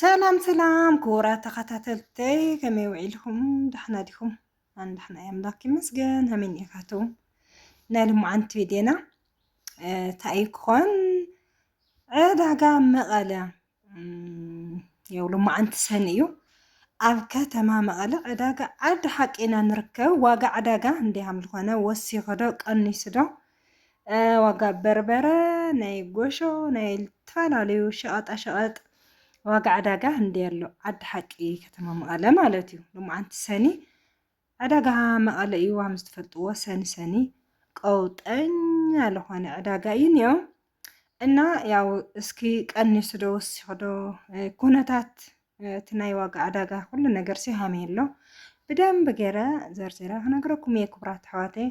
ሰላም ሰላም ክቡራት ተኸታተልተይ ከመይ ውዒልኩም ዳሕና ዲኹም ኣን ዳሕና እየ ኣምላክ ይመስገን ሃመይ ኒኤካትኩም ናይ ልሙዓንቲ ቪድዮና እንታይ እዩ ክኾን ዕዳጋ መቐለ ያው ልሙዓንቲ ሰኒ እዩ ኣብ ከተማ መቐለ ዕዳጋ ዓዲ ሓቂ ኢና ንርከብ ዋጋ ዕዳጋ እንዲሃም ዝኾነ ወሲኹ ዶ ቀኒሱ ዶ ዋጋ በርበረ ናይ ጎሾ ናይ ዝተፈላለዩ ሸቐጣሸቐጥ ዋጋ ዕዳጋ እንዲ ኣሎ ዓዲ ሓቂ ከተማ መቐለ ማለት እዩ ልሙዓንቲ ሰኒ ዕዳጋ መቐለ እዩ ዋም ዝተፈልጥዎ ሰኒ ሰኒ ቀውጠኛ ዝኾነ ዕዳጋ እዩ እኒኦ እና ያው እስኪ ቀንሱ ዶ ወሲኹ ዶ ኩነታት እቲ ናይ ዋጋ ዕዳጋ ኩሉ ነገር ሲሃመ የሎ ብደንብ ገይረ ዘርዚረ ክነግረኩም እየ ክቡራት ኣሕዋተይ።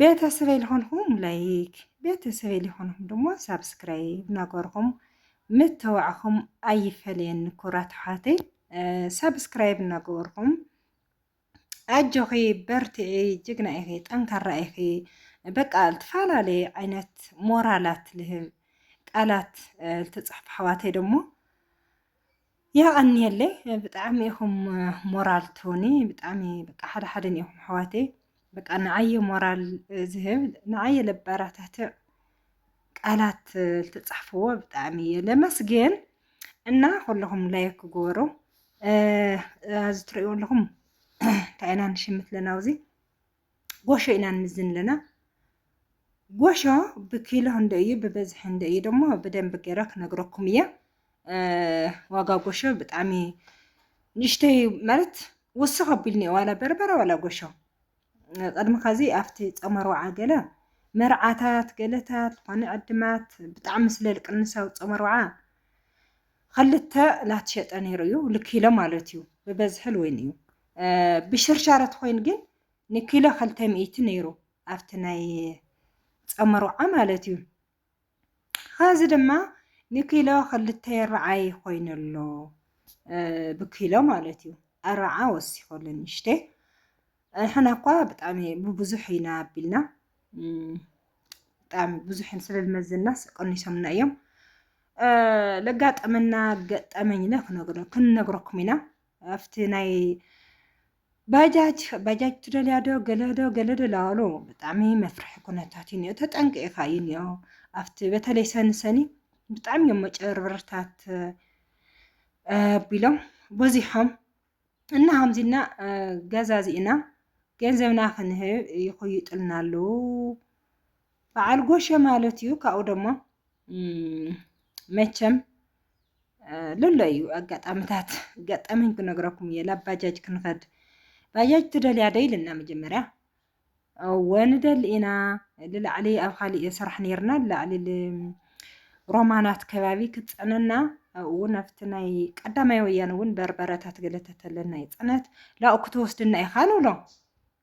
ቤተሰበይ ልኾንኹም ላይክ ቤተሰበይ ልኾንኹም ድማ ሳብስክራይብ እናገርኹም ምተዋዕኹም ኣይፈለየኒ ክቡራት ኣሕዋተይ ሳብስክራይብ እናገበርኹም ኣጆኺ በርትዒ ጅግና ኢኺ ጠንካራ ኢኺ በቃ ዝተፈላለየ ዓይነት ሞራላት ልህብ ቃላት ልትፅሕፍ ኣሕዋተይ ደሞ የቐንየለይ ብጣዕሚ ኢኹም ሞራል ትሁኒ ብጣዕሚ በቃ ሓደ ሓደ ኢኹም ኣሕዋተይ በቃ ንዓየ ሞራል ዝህብ ንዓየ ለባራታትዕ ቃላት ልትጻሕፍዎ ብጣዕሚ እየ ለመስግን እና ኩለኹም ላይክ ክገበሩ ኣዚ ትርእዩ ኣለኹም እንታይ ኢና ንሽምት ኣለና ኣብዚ ጎሾ ኢና ንምዝን ኣለና ጎሾ ብኪሎ እንደ እዩ ብበዝሒ እንደ እዩ ደሞ ብደንብ ገይረ ክነግረኩም እየ ዋጋ ጎሾ ብጣዕሚ ንእሽተይ ማለት ወስኽ ኣቢልኒ ዋላ በርበረ ዋላ ጎሾ ቐድሚ ኸዚ ኣብቲ ጾመ ርውዓ ገለ መርዓታት ገለታት ዝኾነ ዕድማት ብጣዕሚ ስለ ልቅንሳዊ ጾመ ርውዓ ኸልተ ላትሸጠ ነይሩ እዩ ልኪሎ ማለት እዩ ብበዝሒ ልወይን እዩ ብሽርሻረ ትኾይን ግን ንኪሎ ኸልተ ሚእቲ ነይሩ ኣብቲ ናይ ጾመ ርውዓ ማለት እዩ ኸዚ ድማ ንኪሎ ክልተ ይረዓይ ኮይኑ ኣሎ ብኪሎ ማለት እዩ ኣረዓ ወሲኹ ኣሎ ንሽተ ሕና እኳ ብጣዕሚ ብብዙሕ ኢና ኣቢልና ብጣዕሚ ብዙሕ ስለዝመዘና ቀኒሶምና እዮም ለጋጠመና ገጠመኝና ክነግረኩም ኢና ኣብቲ ናይ ባጃጅ ባጃጅ ትደልያ ዶ ገለ ዶ ገለ ዶ ላዋሎ ብጣዕሚ መፍርሒ ኩነታት እዩ እኒኦ ተጠንቂቕኻ እዩ እኒኦ ኣብቲ በተለይ ሰኒ ሰኒ ብጣዕሚ እዮም መጨበርበርታት ኣቢሎም በዚሖም እና ከምዚና ገዛዚእና ገንዘብና ክንህብ ይኹይጥልና ኣለዉ በዓል ጎሸ ማለት እዩ ካብኡ ደሞ መቸም ልሎ እዩ ኣጋጣምታት ገጠመኝ ክነግረኩም እየ ላብ ባጃጅ ክንኸድ ባጃጅ ትደልያ ዶ ኢልና መጀመርያ እወ ንደሊ ኢና ልላዕሊ ኣብ ካሊእ ስራሕ ነርና ልላዕሊ ሮማናት ከባቢ ክትፅዕነና ኣብኡ እውን ኣብቲ ናይ ቀዳማይ ወያነ እውን በርበረታት ገለተተለና ይፅዕነት ላኡ ክትወስድና ኢኻ ንብሎ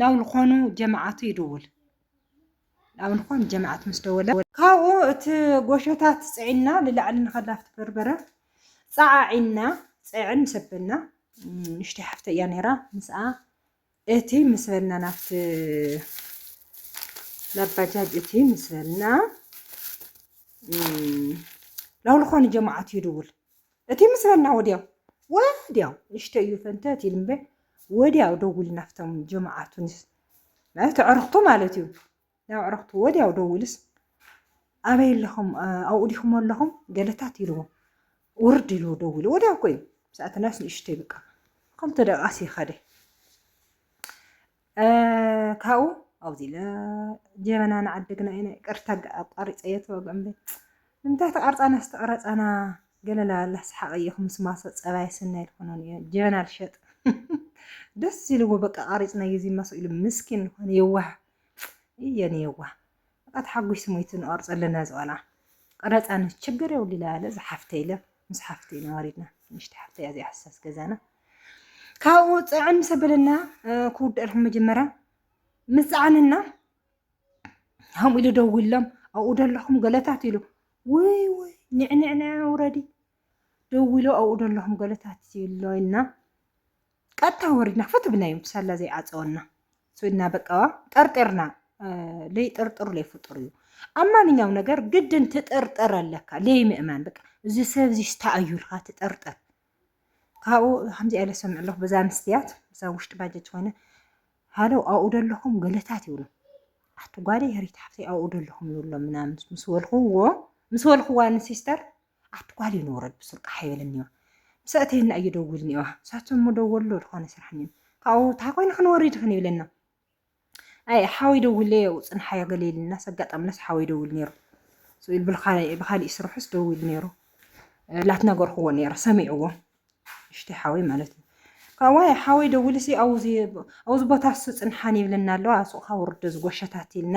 ናብ ዝኾኑ ጀማዓቱ ይድውል ናብ ዝኾኑ ጀማዓት ምስ ደወለ ካብኡ እቲ ጎሸታት ፅዒና ንላዕሊ ንኸዳፍቲ በርበረ ፀዓዒና ፀዕን ምስ ኣበልና ንሽተይ ሓፍተ እያ ነይራ ምስኣ እቲ ምስ በልና ናብቲ ናብ ባጃጅ እቲ ምስ በልና ናብ ዝኾኑ ጀማዓት ይድውል እቲ ምስረና ወዲያው ወዲያው ንሽተ እዩ ፈንተት ኢሉ እምበ ወዲያው ደውል ናፍቶም ጀማዓ ቱኒስ ማለት ኣዕርኽቱ ማለት እዩ ናብ ኣዕርኽቱ ወዲያው ደውልስ ኣበይ ኣለኹም ኣብኡ ዲኹም ኣለኹም ገለታት ኢልዎ ውርድ ኢልዎ ደውሉ ወዲያ እኮ እዩ ምስኣተናስ ንእሽተይ በቃ ከምተ ደቃስ ይኸደ ካብኡ ኣብዚ ኢለ ጀበና ንዓደግና ኢና ይቅርታ ኣቋሪፀ የተወግዕ እምበይ ንምንታይ ተቃርፃና ዝተቀረፃና ገለላ ላስሓቅ እየኹ ምስ ማሶ ፀባይ ስናይ ልኾኖን እየ ጀበና ልሸጥ ደስ ኢልዎ በቃ ቃሪፅና እዩ እዚ ማሶ ኢሉ ምስኪን ልኾነ የዋህ እየን የዋህ በቃ ተሓጒሱ ሞይቱ ንቐርጾ ኣለና ዝቆልዓ ቀረጻ ን ችግር የብሉ ኢለ ኣለ ዝሓፍተይ ኢለ ምስ ሓፍተይ ኢና ወሪድና ንእሽቲ ሓፍተይ እያ እዚኣ ሕሳስ ገዛና ካብኡ ጽዕን ምስ ኣበለና ክውድኣልኩም መጀመርያ ምስ ጸዓንና ከምኡ ኢሉ ደዊሎም ኣብኡ ደለኹም ገለታት ኢሉ ውይ ውይ ንዕንዕንዕ ውረዲ ደዊሎ ኣብኡ ደለኹም ገለታት ኢሎ ኢልና ቀጥታ ወሪድና ፈት ብናዮም ሳላ ዘይዓፀወና ስዊድና በቃዋ ጠርጢርና ለይጥርጥሩ ለይፍጡር እዩ ኣብ ማንኛውም ነገር ግድን ትጥርጥር ኣለካ ለይ ምእማን በቃ እዚ ሰብ እዚ ስታኣዩ ኢልካ ትጥርጥር ካብኡ ከምዚ ኣለ ሰምዕ ኣለኹ በዛ ኣንስትያት እዛ ውሽጢ ባጀት ዝኾነ ሃሎ ኣብኡ ደለኹም ገለታት ይብሉ ኣቲ ጓደይ ሄሪት ሓፍተይ ኣብኡ ደለኹም ይብሎም ምናምን ምስ በልኹዎ ምስ በልኹዋ ንሲስተር ኣቲ ጓል እዩ ንውረድ ብሱር ቃሕ ይበለኒ እዮ ምስ ኣእተየና እዩ ደዊሉ ኒኦ ሳቶ እሞ ደወሉ ዶ ድኮነ ስራሕ ኒኦ ካብኡ ታይ ኮይኑ ክንወሪድ ይክን ይብለና ኣይ ሓወይ ደዊሉ እዮ ውፅንሓዮ ገለ ኢልናስ ኣጋጣምናስ ሓወይ ደዊሉ ነይሩ ስኢል ብካሊእ ስርሑስ ደዊሉ ነይሩ ላት ነገርክዎ ነይረ ሰሚዕዎ እሽተይ ሓወይ ማለት እዩ ካብዋይ ሓወይ ደዊሉ ሲ ኣውዚ ኣውዚ ቦታ ሱ ፅንሓን ይብለና ኣለዋ ሱቅካ ውርዶ ዝጎሸታት ኢልና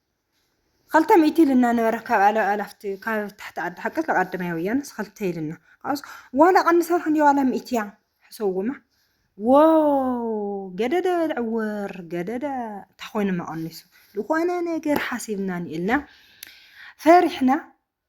ኸልተ ሚእቲ ኢልና ነበረ ካብ ኣለ ኣላፍቲ ካብ ታሕቲ ዓዲ ሓቂ ተቀድመያ ወያነ ኸልተ ኢልና ኣስ ዋላ ቀንሰር ክንዲ ዋላ ሚእቲያ ሕሰውማ ዎ ገደደ ልዕውር ገደደ እንታይ ኮይኑ መቀኒሱ ዝኾነ ነገር ሓሲብና ንኢልና ፈሪሕና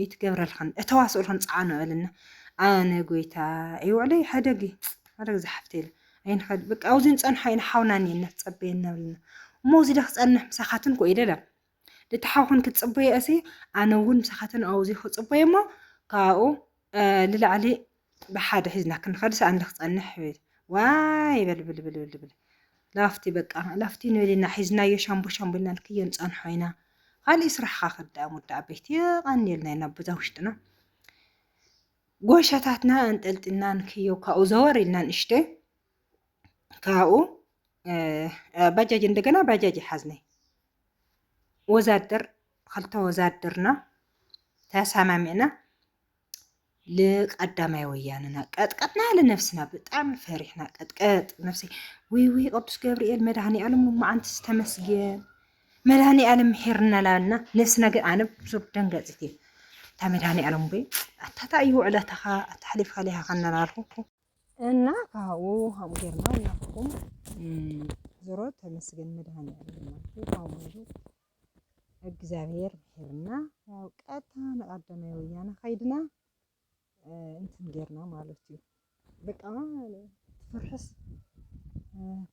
እይትገብረልክን እተዋስኡልክን ጸዓኑ ኣልና ኣነ ጎይታ ይውዕለይ ሓደግ ሓደግ ዝሓፍተይ ኣይንኸድ በቃ ኣብዚ ንጸንሖ ኢና ሓውና እኒ እናተጸበየና ብልና እሞ እዚ ደ ክጸንሕ ምሳኻትን ኮ ኢለ ለም ደቲ ሓውኽን ክትጽበየ እሲ ኣነ እውን ምሳኻትን ኣውዚ ክጽበየ እሞ ካብኡ ልላዕሊ ብሓደ ሒዝና ክንኸድ ሳእኒ ክጸንሕ ይብል ዋይ በል ብል ብል ብል ብል ላፍቲ በቃ ላፍቲ ንብል ኢና ሒዝናዮ ሻምቦ ሻምቦ ኢልና ንክዮ ንጸንሖ ኢና ኻሊእ ስራሕኻ ክዳእ ሙዳ ኣበይቲ የቐንየልና ኢና ኣቦዛ ውሽጥና ጎሸታትና ኣንጠልጥልና ንክዮ ካብኡ ዘወር ኢልና ንእሽተይ ካብኡ ባጃጅ እንደገና ባጃጅ ይሓዝነይ ወዛደር ክልተ ወዛደርና ተሰማሚዕና ልቀዳማይ ወያንና ቀጥቀጥና ያለ ነፍስና ብጣዕሚ ፈሪሕና ቀጥቀጥ ነፍሲ ወይ ወይ ቅዱስ ገብርኤል መድሃኒ ዓለም መዓንቲ ዝተመስገን መድሃኒ ዓለም ምሒርና ላና ነፍስና ግን ኣነ ብዙብ ደንገፂት እየ እታ መድሃኒ ዓለም ወይ ኣታታ እዩ ውዕለታኻ ኣታ ሓሊፍካ ሊሃኻ እናናልኩ እና ካብኡ ሃም ጌርና ናፍኩም ዞሮ ተመስገን መድሃኒ ዓለም ማለት እዩ እግዚኣብሔር ምሒርና ያው ቀጥታ ንቀዳማይ ወያነ ከይድና እንትን ጌርና ማለት እዩ በቃ ትፍርሕስ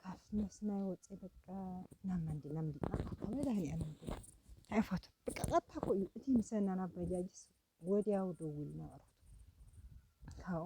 ካብ መስናይ ወፂ በቃ ናብ መንዲ ናብ መንዲ መድሃኒዓለም ኣይፋቱ በቃ ቀጥታ እኮ እዩ እቲ ምሰና ናብ ባጃጅስ ወዲያው ደውል ነበረቱ ካብኡ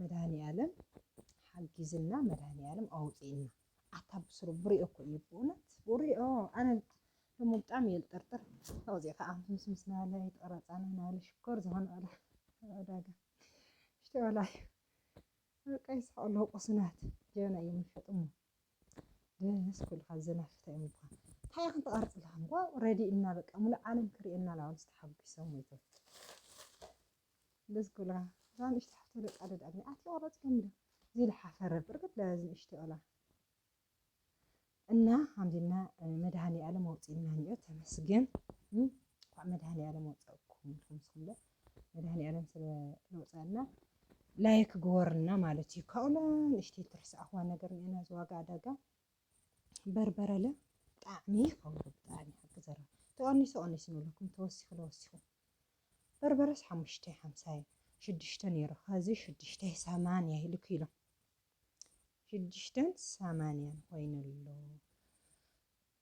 መድሃኒኣለም ሓጊዝና መድሃኒኣለም ኣውጺእና። ኣታ ብስሩ ብሪኦ እኮ እዩ ብእውነት ብሪኦ ኣነ እሞ ብጣዕሚ እየ ዝጠርጥር ካብዚ ከዓ ምስ ምስ ናለ ይትቀረፃና ናለ ሽኮር ዝኾነ ዋላ ዕዳጋ ሽቲ ዋላ እዩ በቃ ይስሐቅ ኣለዎ ቁስናት ጀና እዮም ይሸጡ እሞ ደስ ኩልካ ዘናፍታ እዮም እኳ እንታይ ኢኽን ትቐርፅልካ እንኳ ረዲእና በቃ ሙሉእ ዓለም ክርእየና ላውን ዝተሓጒሶም ወይቶ ደስ ክብሉካ እዛ ንእሽተይ ሓፍተይ ደቃ ደድ ኣብኒ ኣቲ ቆረጽ ገምዶ ዚል ሓፈረ ብርግድ ለዚ ንእሽተይ ኦላ እና ሀምድና መድሃኒ ኣለም ኣውጽእና ኒኦ ተመስገን እንኳዕ መድሃኒ ኣለም ወጸእኩም ኢልኩም ስኹምለ መድሃኒ ኣለም ስለ ለውጸና ላይክ ግወርና ማለት እዩ ካብኡለ ንእሽተይ ትርስኣኽዋ ነገር ኒኤና ዝዋጋ ኣዳጋ በርበረለ ጣዕሚ ይኸውን ብጣዕሚ ሓቂ ዘራ ተቐኒሱ ቐኒሱ ንብለኩም ተወሲኹ ለወሲኹ በርበረስ ሓሙሽተ ሓምሳይ ሽዱሽተ ነይሩ ኸዚ ሽዱሽተ ሰማንያ ኢሉ ኪሎ ሽዱሽተን ሰማንያን ኮይኑ ኣሎ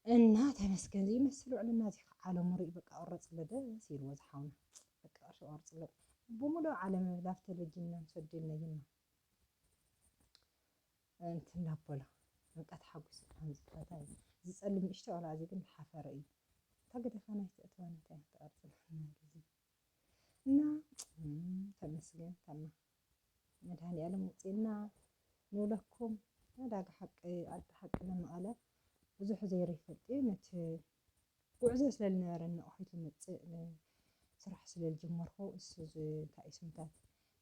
እና ተመስገን ዘይመስል ውዕልና እዚ ከዓ ዓለሙ ርኢ በቃ ቁረፅለ ደስ ኢልዎ ዝሓውና በቃ ቅርሺ ቆርፅለ ብሙሉእ ዓለም ብላፍ ተለጅና ንሰደልና ይና ምእንቲ እናበሎ ንቃ ተሓጒሱ ከም ዝፈታ እዩ ዝጸልም ንእሽቶ ቆልዓ እዚ ግን ሓፈረ እዩ እታ ገደፋ ናይ ተእትዋ ናታ እያ ትቐርጽለና ኢሉ እዚ እና ተመስገን ተማ መድሃኒኣለም ውጽና ንብለኩም ዕዳጋ ሓቂ ዓዲ ሓቂ ለመቐለ ብዙሕ ዘይሩ ይፈልጥ እዩ ነቲ ጉዕዞ ስለ ልነበረኒ ኦሒት ልመጽእ ስራሕ ስለ ልጀመርኩ እሱ ዝንታይ ስምታት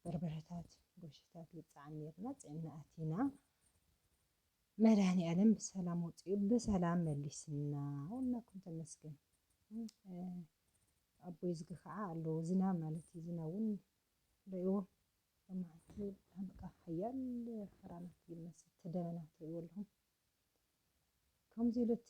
በርበረታት ጎሽታት ልጽዓን ኔርና ጽዕና ኣቲና መድኃኒዓለም ብሰላም ወጽኡ ብሰላም መሊስና ወላኩም ተመስገን ኣቦይ ዝግ ከዓ ኣለዎ ዝናብ ማለት እዩ ዝናብ እውን ርእዎ ብመዓልቲ በቃ ሓያል ክራማት ይመስል እቲ ደበና ትርእዎ ኣለኹም ከምዚ ኢሉት